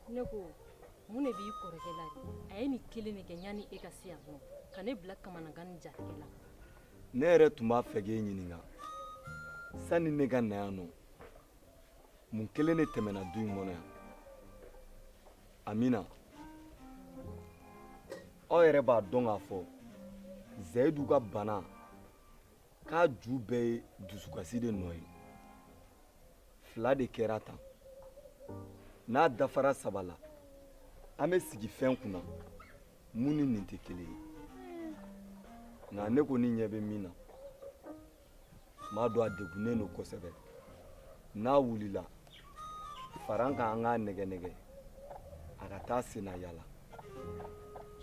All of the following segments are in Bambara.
ne ko mun de b'i kɔrɔkɛ la de a ye nin kelen de kɛ yanni e ka se yan nɔ ka ne bila kamanagan ni jatigɛ la ne yɛrɛ tun b'a fɛ k'e ɲininka sanni ne ka na yan nɔ mun kelen de tɛmɛna du in kɔnɔ yan amina aw yɛrɛ b'a dɔn k'a fɔ zayidu ka bana k'a ju bɛɛ ye dusukasi de nɔ ye fila de kɛra tan n'a dafara saba la an bɛ sigi fɛn kunna mun ni nin tɛ kelen ye nka ne kɔni ɲɛ bɛ min na m'a dɔn a degunnen don kosɛbɛ n'a wulila faran kan an k'a nɛgɛ nɛgɛ a ka taa senna yala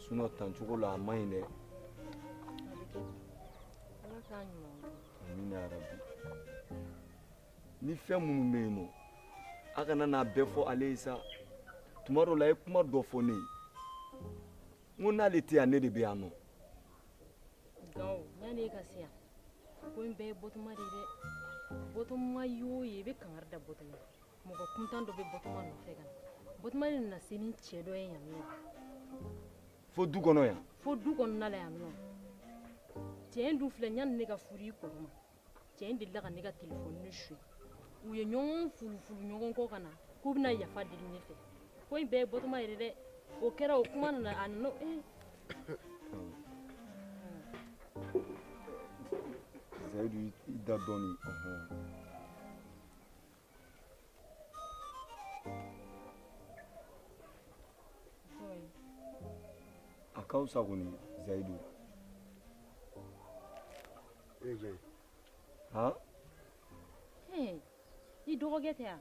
sinɔn tancogo la a man ɲi dɛ amina yarabi ni fɛn minnu bɛ yen nɔ a kana n'a bɛɛ fɔ ale ye sa tuma dɔ la a ye kuma dɔ fɔ ne ye n ko n'ale tɛ yan ne de bɛ yan nɔ. gawo yanni e ka se yan ko in bɛɛ ye bɔtuma de ye dɛ bɔtuma ye o ye i bɛ kangari da bɔtuma mɔgɔ kuntan dɔ bɛ bɔtuma nɔfɛ ka na bɔtuma de nana se ni cɛ dɔ ye yan nɔ fo du kɔnɔ yan fo du kɔnɔna la yan nɔ cɛ in dun filɛ yanni ne ka furu i kɔrɔ ma cɛ in delila ka ne ka telefɔni suɲɛ u ye ɲɔgɔn fulufulu ɲɔgɔn kɔ ka na k'u bɛna yafa deli ne fɛ ko in bɛɛ ye bɔtuma yɛrɛ dɛ o kɛra o kuma nana a nana ee zayidu i da dɔɔni a ka fisa kɔni zayidu han i dɔgɔkɛ tɛ yan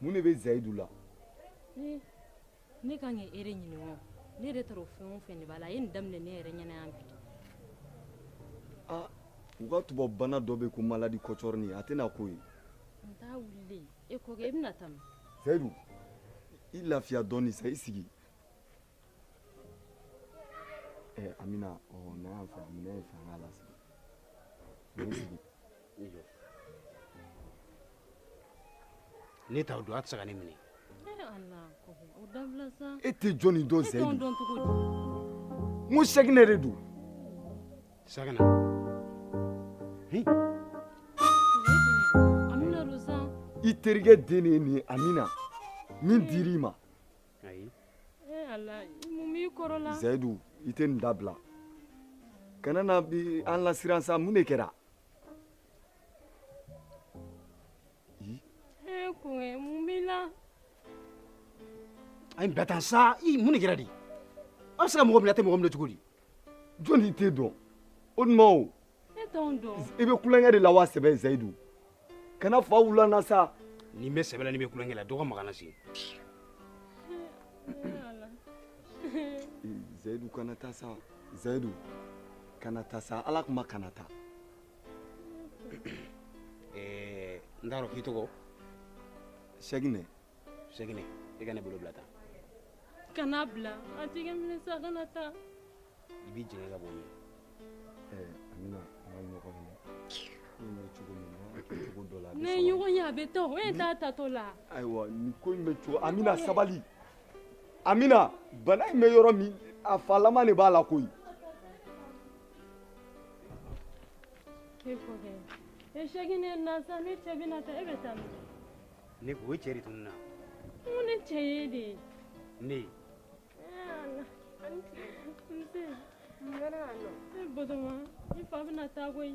mun de bɛ zayidu la ee ne kan ka e de ɲininka o ne yɛrɛ t'a dɔn fɛn o fɛn de b'a la a ye nin daminɛ ne yɛrɛ ɲɛna yan bi aa u ka tubabubana dɔ bɛ ko maladi kɔcɔrɔni a tɛna k'o ye n t'a wulilen e kɔkɛ i bɛna taa min zayidu i lafiya dɔɔni sa i sigi ɛ amina ɔ na yan fɛ amina ye fɛ an k'a lasigi ne t'aw dɔn a tɛ se ka ne minɛ e tɛ jɔnni dɔn zayidu n ko sɛginɛ de don sɛginɛ i terikɛ den de ye nin ye amina min dir'i ma zayidu i tɛ nin dabila kana na an lasiran sa mun de kɛra e kɔkɛ mun b'i la a ye n bila tan sa i mun de kɛra de aw bɛ se ka mɔgɔ minɛ a tɛ mɔgɔ minɛ cogo di jɔn de t'e dɔn o tuma o e t'anw dɔn i bɛ tulonkɛ de la wa sɛbɛ zayidu kana fa wula na sa ni n bɛ sɛbɛ la ni n bɛ tulonkɛ la dɔgɔ magana se zayidu kana taa sa zayidu kana taa sa ala kama kana taa eh, n t'a dɔn k'i tɔgɔ sɛginɛ sɛginɛ i ka ne bolo bila tan kana bila a tɛgɛ minɛ sa kana taa i b'i jɛngɛ ka bɔ min eh, amina an ka ɲɔgɔn minɛ bɛ cogo min na cogo dɔ la ne ɲɔgɔn ye a bɛ taa o e t'a taatɔ la ayiwa nin ko in bɛ cogo amina sabali amina bana in bɛ yɔrɔ min a falama de b'a la koyi ne ko o cɛ de tun na mun ne cɛ ye de ye ne ye Batoma, i fa bɛna taa koyi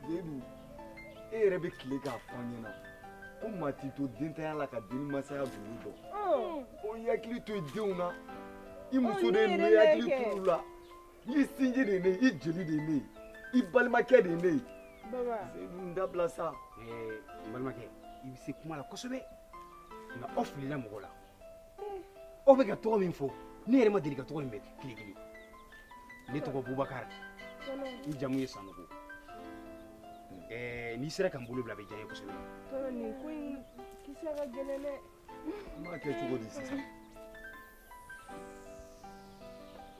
seyidu e yɛrɛ bɛ tile k'a fɔ an ɲɛna ko maa t'i to dentanya la ka den masaya duuru dɔn oh. o y'i hakili to i denw na i oh, muso de ye ne ye hakili to olu la i sinji de ye ne ye i jeli de ye ne ye i balimakɛ de ye ne ye seyidu n dabila sa. n balimakɛ i bɛ se kuma la kosɛbɛ nka aw filila mɔgɔ la. aw bɛ ka tɔgɔ min fɔ ne yɛrɛ ma deli ka tɔgɔ in mɛn tile kelen ne tɔgɔ bubakari n jamu ye sanogo n'i sera ka n bolo bila a bɛ diya n ye kosɛbɛ nin ko in kisɛ ka gɛlɛn dɛ n b'a kɛ cogo di sisan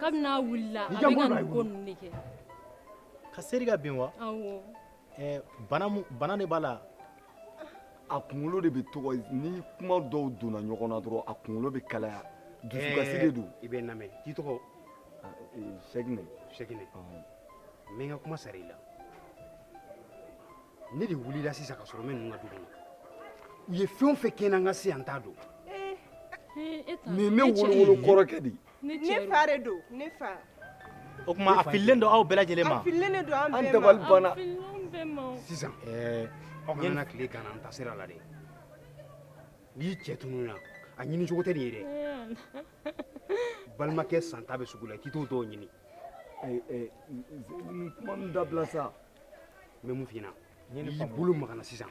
kabini a wulila a bɛ ka nin ko ninnu de kɛ ka seri ka bin wa awɔ ɛɛ bana mun bana de b'a la a kunkolo de b'a tɔɔrɔ ni kuma dɔw donna ɲɔgɔn na dɔrɔn a kunkolo bɛ kalaya dusukasi de don i bɛ n lamɛn k'i tɔgɔ sɛginɛ sɛginɛ n bɛ n ka kuma sara i la ne de wulila sisan k'a sɔrɔ n bɛ ninnu ka du kɔnɔ u ye fɛn o fɛn kɛ n na n ka se yan n t'a dɔn nin ye ne wolowolo kɔrɔkɛ de ye ne fa de don ne fa o tuma a fililen don aw bɛɛ lajɛlen ma a fililen de don an bɛɛ ma an dabali banna sisan ɛɛ aw kana na tile ganna an ta sira la dɛ n'i cɛ tununna a ɲini cogo tɛ nin ye dɛ balimakɛ santa bɛ sugu la k'i t'o dɔw ɲini kuma nin dabila sa n bɛ mun f'i ɲɛna n'i bolo maga n na sisan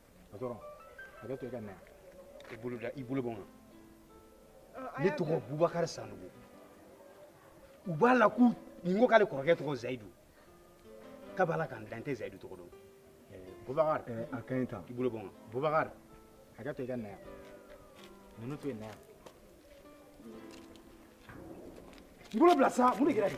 o dɔrɔn hakɛ to i ka na i bolo da i bolo bɔ n kan ne tɔgɔ bubakari sanogo u b'a la k'u nin ko k'ale kɔrɔkɛ tɔgɔ zayidu k'a b'a la k'an dan tɛ zayidu tɔgɔ dɔn bubakari a ka ɲi tan i bolo bɔ n kan bubakari hakɛ to i ka na yan ninnu to yen na yan n bolo bila sa mun de kɛra de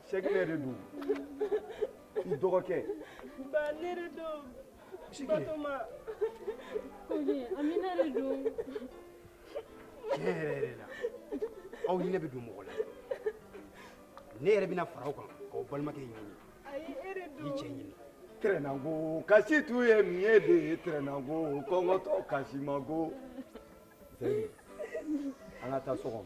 sɛkinɛ de don i dɔgɔkɛ ba ne de don batoma koɲe amina de don tiɲɛ yɛrɛ yɛrɛ la aw hinɛ bɛ don mɔgɔ la ne yɛrɛ bɛna fara aw kan k'aw balimakɛ ɲini ayi e de don i cɛ ɲini tɛrɛnango kasi t'u ye min ye de ye tɛrɛnango kɔngɔtɔ kasimago an ka taa so kɔnɔ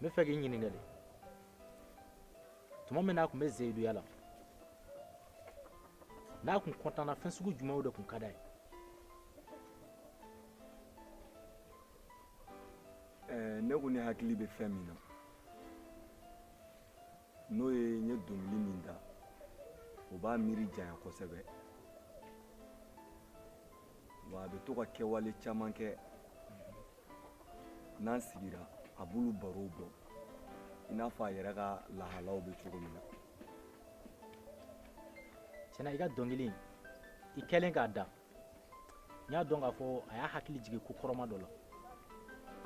n b'a fɛ k'i ɲininka de tuma min n'a tun bɛ zayiduya la n'a tun kɔntanna fɛn sugu jumɛnw de tun ka d'a ye eh, ne ko ne hakili bɛ fɛn min na n'o ye n ye dɔnkili min da o b'a miiri janya kosɛbɛ wa a bɛ to ka kɛwale caman kɛ n'an sigira a b'olu barow bɔ i n'a fɔ a yɛrɛ ka lahalaw bɛ cogo min na tiɲɛ na i ka dɔnkili in i kɛlen k'a da n y'a dɔn k'a fɔ a y'a hakili jigin ko kɔrɔma dɔ la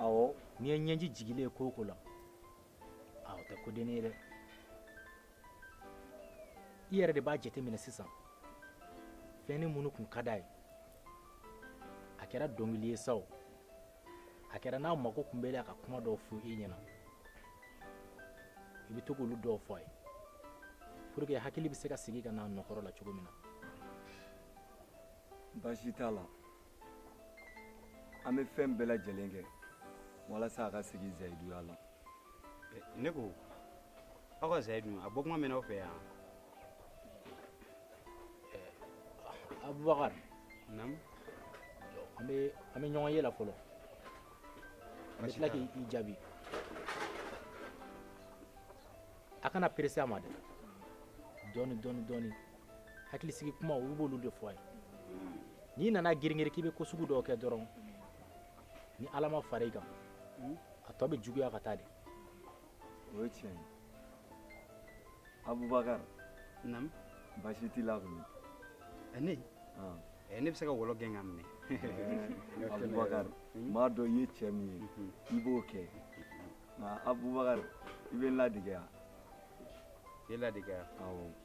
awɔ n'i ye ɲɛji jigilen ye ko o ko la a o tɛ kodennin ye dɛ i yɛrɛ de b'a jateminɛ sisan fɛn ni minnu tun ka d'a ye a kɛra dɔnkili ye sa o a kɛra n'a mago tun b'a la ka kuma dɔw fɔ i ɲɛna i bɛ to k'olu dɔw fɔ a ye pour que hakili bɛ se ka segin ka n'a nɔ kɔrɔ la cogo min na baasi t'a la an bɛ fɛn bɛɛ lajɛlen kɛ walasa a ka segin zayiduya la eh, ne ko aw ka zayidu a bɔ kuma mɛn aw fɛ yan eh, abubakar naamu an bɛ an bɛ ɲɔgɔn ye la fɔlɔ an bɛ tila k'i jaabi a kana perese a ma dɛ dɔɔni dɔɔni dɔɔni hakilisigi kuma olu b'olu de fɔ a ye n'i nana giringiri k'i bɛ ko sugu dɔw kɛ dɔrɔn ni ala ma fara i kan a tɔ bɛ juguya ka taa de o ye tiɲɛ ye abubakar naamu baasi t'i la kɔni ne ne bɛ se ka wɔlɔ gɛn ka minɛ abubakar n b'a dɔn i ye cɛ min ye i b'o kɛ nka abubakar i bɛ n ladege yan i ye ladege yan awɔ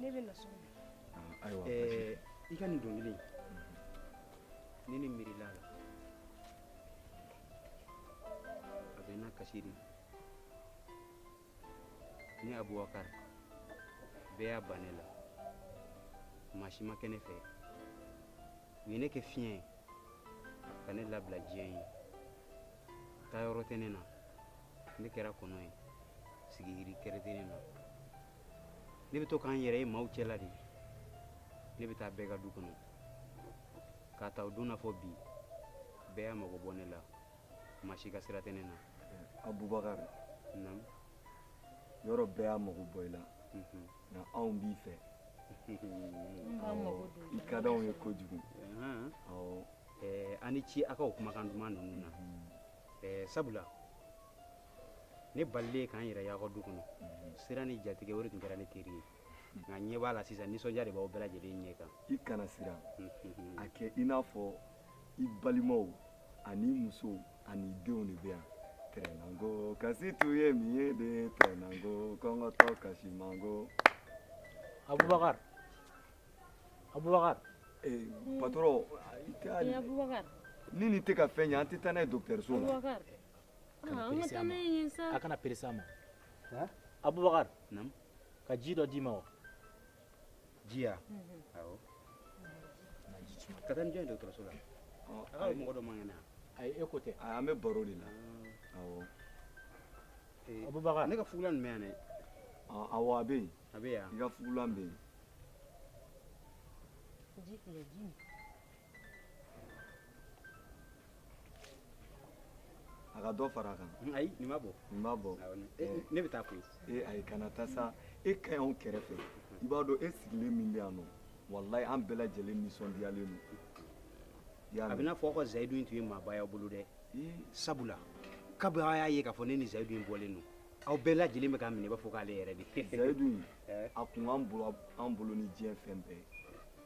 ne bɛ na so ayiwa i ka nin dɔnkili ni ne miirila a la a bɛ na kasi de ne abubakari bɛɛ y'a ban ne la maa si ma kɛ ne fɛ u ye ne kɛ fiɲɛ ye ka ne labila diɲɛ ye taa yɔrɔ tɛ ne na ne kɛra kɔnɔ ye sigi yiri kelen tɛ ne na ne bɛ to ka n yɛrɛ ye maaw cɛla de ne bɛ taa bɛɛ ka du kɔnɔ k'a ta o don na fɔ bi bɛɛ y'a mago bɔ ne la maa si ka sira tɛ ne na abubakari yɔrɔ bɛɛ y'a mago bɔ i la mhm. nka anw b'i fɛ i ka d'anw ye kojugu aw ni ce aw ka o kumakan duman ninnu na mhm. sabula ne balilen ka n yɛrɛ y'aw ka du kɔnɔ siran ni jatigɛ o de tun kɛra ne teri ye nka n ɲɛ b'a la sisan nisɔndiya de b'aw bɛɛ lajɛlen ɲɛ kan i kana siran a kɛ i n'a fɔ i balimaw ani musow ani denw de bɛ yan tɛrɛnanko kasi tun ye min ye de tɛrɛnanko kɔngɔtɔ kasi manko abubakar abubakar eh, patɔrɔn i tɛ ni nin tɛ ka fɛn ye an tɛ taa n'a ye dɔgɔtɔrɔso la a kana perese a ma abubakar ka ji dɔ d'i ma wa ji ya awɔ ka taa ni jɔn ye dɔgɔtɔrɔso la a mɔgɔ dɔ man kɛnɛ yan ayi e ko tɛ an bɛ baro de la awɔ abubakar ne ka fugulan nin bɛ yan dɛ awɔ a bɛ yen a bɛ yan i ka fugulan bɛ yen ji filɛ ji min a ka dɔ fara a kan mm, ayi nin b'a bɔ nin b'a bɔ eh. ne bɛ taa koyi ee eh, ayi kana taa sa e ka ɲi anw kɛrɛfɛ i b'a dɔn e sigilen min bɛ yan nɔ walayi an bɛɛ lajɛlen nisɔndiyalen don a bɛ n'a fɔ aw ka zayidu in tun ye maaba y'aw bolo dɛ sabula kabi aw y'a ye k'a fɔ ne ni zayidu in bɔlen don aw bɛɛ lajɛlen bɛ k'a minɛ i b'a fɔ k'ale yɛrɛ de zayidu in eh? a ka bon an bolo ni diɲɛ fɛn bɛɛ ye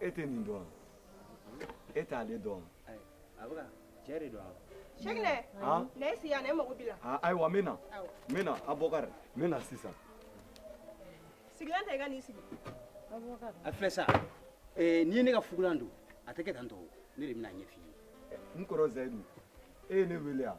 e tɛ nin dɔn wa e t'ale dɔn wa a bɛ ka cɛ de don wa Seginɛ na i sigi yan ne mago b'i la ayiwa n bɛ na n bɛ na Abubakari n bɛ na sisan sigilan ta i ka n'i sigi a filɛ sa n'i ye ne ka fugulan don a tɛ kɛ tan tɔ ne de bɛna a ɲɛf'i ye n kɔrɔ Zayidu e ye ne wele yan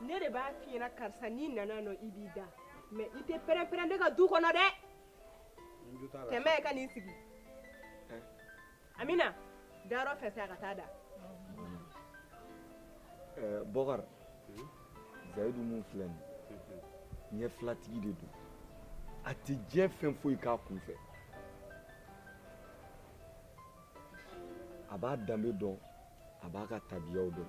ne de b'a f'i ɲɛna karisa n'i nana nɔ i b'i da minɛ i tɛ pɛrɛnpɛrɛn ne ka du kɔnɔ dɛ tɛmɛ ka n'i sigi amina dayɔrɔ fɛnsɛ a ka taa da eh, bɔkar zayidu min filɛ nin mhm. ɲɛ filatigi de don a tɛ diɲɛ fɛn foyi k'a kun fɛ a b'a danbe dɔn a b'a ka tabiyaw dɔn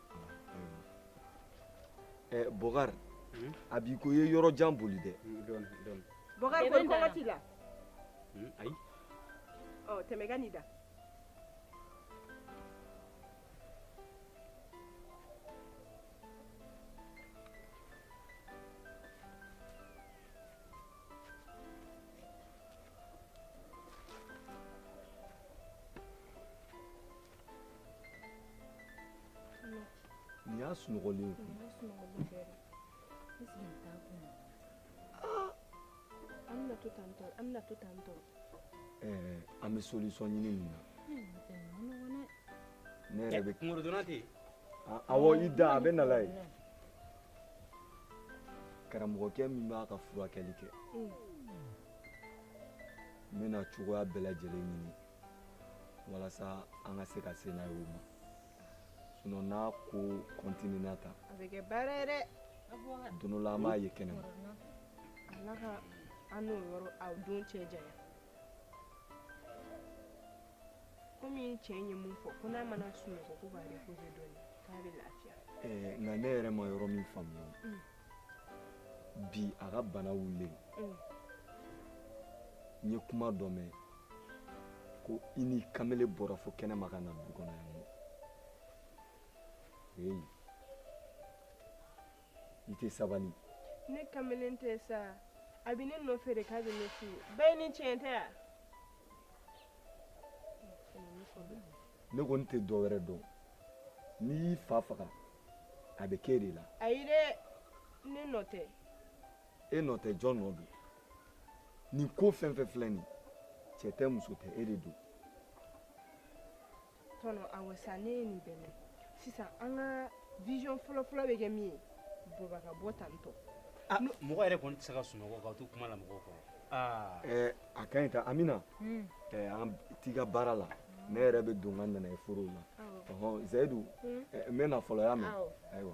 Eh, bokar hmm? a b'i ko i ye yɔrɔ jan boli dɛ bokar ko kɔngɔ t'i la hmm, ayi ɔ oh, tɛmɛ ka n'i da Nin y'a sunɔgɔlen kun. An bɛna to tan tɔ an bɛna to tan tɔ. Ɛɛ an bɛ solution ɲini nin na. Ne yɛrɛ bɛ. Kunkolodonna tɛ yen. Awɔ i da a bɛ na la ye. Karamɔgɔkɛ min b'a ka furakɛli kɛ. N bɛna cogoya bɛɛ lajɛlen ɲini. walasa an ka se ka se n'a ye o ma sinon n'a ko kɔntinena tan a bɛ kɛ baara ye dɛ don dɔ la an b'a ye kɛnɛ ma ala ka an n'o yɔrɔ a don cɛ janya komi n cɛ ye min fɔ ko n'a mana sunɔgɔ k'o b'a reposer dɔɔni k'a bɛ lafiya eh, nka ne yɛrɛ ma yɔrɔ min faamuya mm. bi a ka bana wulilen mm. n ye kuma dɔ mɛn ko i ni kamele bɔra fo kɛnɛma ka na du kɔnɔ yan eyi i tɛ sabali ne kamelen tɛ sa a bɛ ne nɔfɛ de k'a bɛ ne fɛ yen bayini tiɲɛ tɛ wa ne kɔni tɛ dɔ wɛrɛ dɔn n'i y'i fa faga a bɛ k'e de la ayi dɛ ne nɔ tɛ e nɔ tɛ jɔn nɔ don nin ko fɛn fɛn filɛ nin cɛ tɛ muso tɛ e de don tɔnɔ awɔ sa ne ye nin bɛɛ mɛn sisan an ka vision fɔlɔfɔlɔ bɛ kɛ min ye baba ka bɔ tantɔ ah, mɔgɔ yɛrɛ kɔni tɛ se ka sunɔgɔ k'aw to kuma la mɔgɔw kɔrɔ ah. eh, a ka ɲi ta amina hmm. eh, an t'i ka baara la ne yɛrɛ bɛ don n ka nanaye foro la ɔhɔn zayidu hmm. eh, n bɛ na fɔlɔ y'a mɛn ayiwa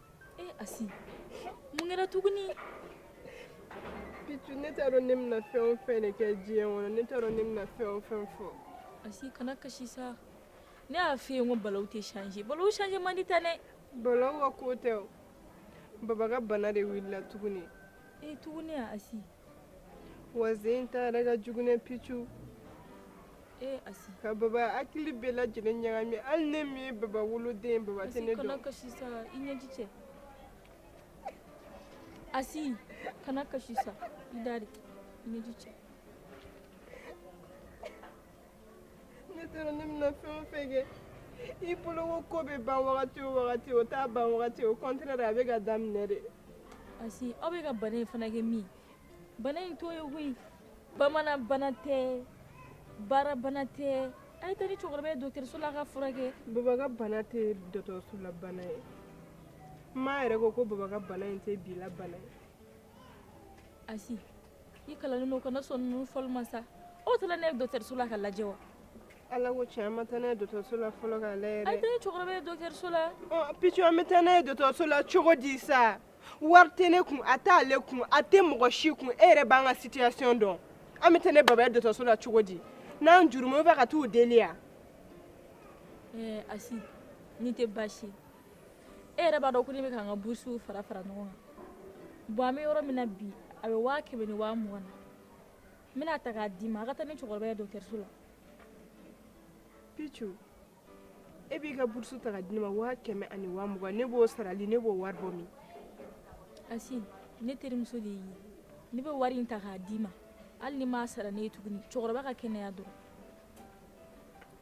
e eh, asi mun kɛra tuguni picu ne t'a dɔn ne bɛna fɛn o fɛn de kɛ diɲɛ kɔnɔ ne t'a dɔn ne bɛna fɛn o fɛn fɔ asi kana kasi sa ne y'a f'i ye ko balaw tɛ changer balaw changer man di tan dɛ balaw ka ko tɛ o baba ka bana de wulila tuguni e tuguni a asi wa sen in ta yɛrɛ ka jugu dɛ picu eh, ka baba hakili bɛɛ lajɛlen ɲagami hali ne min ye baba woloden baba tɛ ne dɔn asi kana kasi sa i da de i ɲɛji cɛ ne t'a dɔn ne bɛna fɛn o fɛn kɛ i bolo ko ko bɛ ban wagati o wagati o t'a ban wagati au contraire a bɛ ka daminɛ de asi aw bɛ ka bana in fana kɛ min bana in t'o ye koyi bamanan bana tɛ baara bana tɛ a ye taa ni cɛkɔrɔba ye dɔgɔtɔrɔso la a ka furakɛ baba ka bana tɛ dɔgɔtɔrɔso la bana ye n ma yɛrɛ ko ko baba ka bana in tɛ bi la bana ye asi i kalannen don kana sɔn ninnu fɔli ma sa aw taara n'a ye dɔgɔtɔrɔso la k'a lajɛ wa ala ko tiɲɛ an ma taa n'a ye dɔgɔtɔrɔso la fɔlɔ k'a lajɛ dɛ a ye taa ni cɛkɔrɔba ye dɔgɔtɔrɔso la picu an bɛ taa n'a ye dɔgɔtɔrɔso la cogo di sa wari tɛ ne kun a t'ale kun a tɛ mɔgɔ si kun e yɛrɛ b'an ka situation dɔn an bɛ taa ni baba ye dɔgɔtɔrɔso la cogo di n'an juruma bɛ ka t'u deli yan ɛɛ asi nin tɛ baasi ye e yɛrɛ b'a dɔn ko ne bɛ ka n ka burusiw fara fara ɲɔgɔn kan bon an bɛ yɔrɔ min na bi a bɛ waa kɛmɛ ni waa mugan na n bɛn'a ta k'a d'i ma a ka taa ni cɛkɔrɔba ye dɔgɔtɔrɔso la picu e b'i ka burusu ta k'a di ne ma waa kɛmɛ ani waa mugan ne b'o sara di ne b'o wari bɔ min asi ne terimuso de y'i ye ne bɛ wari in ta k'a d'i ma hali n'i m'a sara ne ye tuguni cɛkɔrɔba ka kɛnɛya dɔrɔn